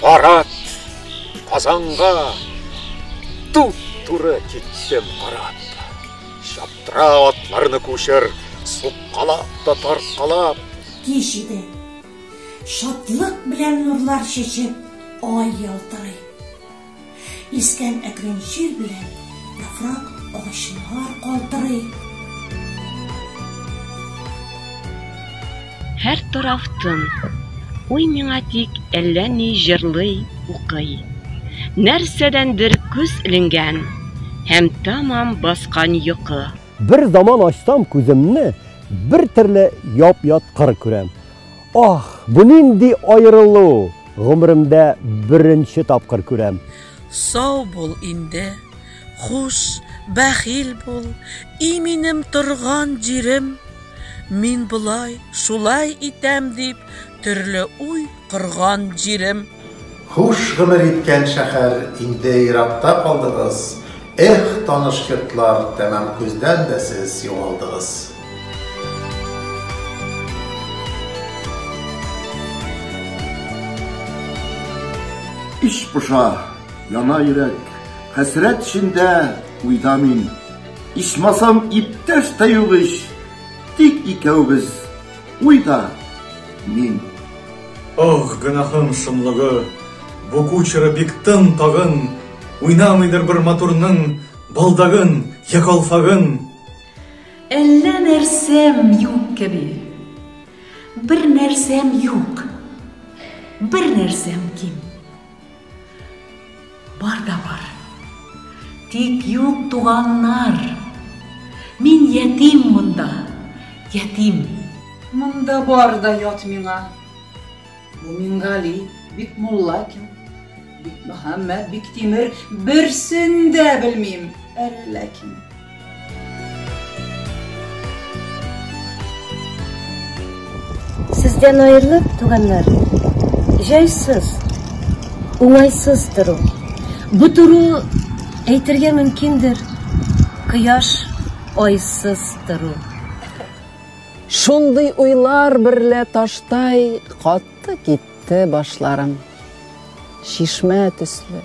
Парад Казанга туп туры киттем карап. Чаптыра атларны күчер, суккалап та тарткалап. Кич иде. Шатлык белән нурлар чәчеп, ай ялтырый. Искән әкрен җил белән яфрак агачлар калтырый. Һәр тараф тын. Уй миңа тик әллә ни җырлый, укый. Нәрсәдәндер күз эленгән һәм тәмам баскан йокы. Бер заман ачсам күземне, бер төрле яп-ят кыр күрәм. Ох, бу нинди аерылу! Гомеремдә беренче тапкыр күрәм. Сау бул инде, хуш, бәхил бул, и минем торган җирем! Мин болай, шулай итәм дип, төрле уй корган җирем! Хуш гомер иткән шәхәр инде еракта калдыгыз, Эх, таныш йортлар, тәмам күздән дә сез югалдыгыз. Эч поша, яна йөрәк, Хәсрәт эчендә, уйда мин. Ичмасам, иптәш тә юк ич, Тик икәүбез. Уйда мин. Ох, гөнаһым шомлыгы, Бу кучеры бик тын тагын, Уйнамыйдыр бер матурның Балдагын йә калфагын. Әллә нәрсәм юк кеби. Бер нәрсәм юк. Бер нәрсәм ким. Бар да бар. Тик юк туганнар. Мин ятим монда, ятим. Монда бар да ят миңа. Бу Мингали, бик Муллакин, бик Мөхәммәт, бик Тимер, берсен дә белмим, әллә кем. Сездән аерылып, туганнар, җайсыз, уңайсыз тору. Бу тору, әйтергә мөмкиндер, кояш айсыз тору. Шундый уйлар берлә таштай кат. Акты китте башларым. Чишмә төсле,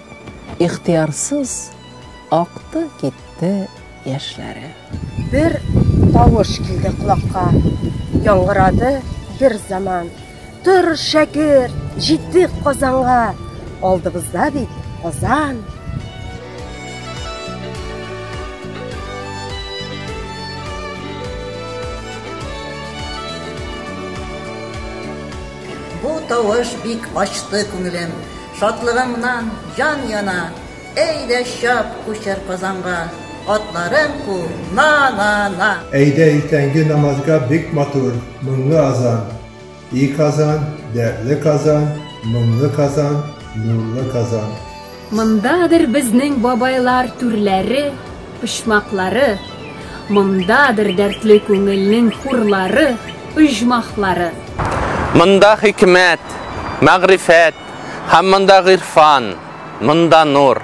ихтиярсыз акты китте яшьләре. Бер тавыш килде колакка, яңгырады бер заман. Тор, шәкерт, җитик Казанга, алдыбызда бит Казан. Бу тавыш бик ачты күңелем, Шатлыгымнан җан яна, Әйдә чап, күчер Казанга, Атларың ку, на-на-на! Әйдә иртәнге намазга Бик матур, моңлы азан. И Казан, дәртле Казан, моңлы Казан, нурлы Казан. Мондадыр безнең бабайлар түрләре, почмаклары, Мондадыр дәртле күңелнең хурлары, оҗмахлары. Монда хикмәт, мәгърифәт һәм монда гыйрфан, монда нур.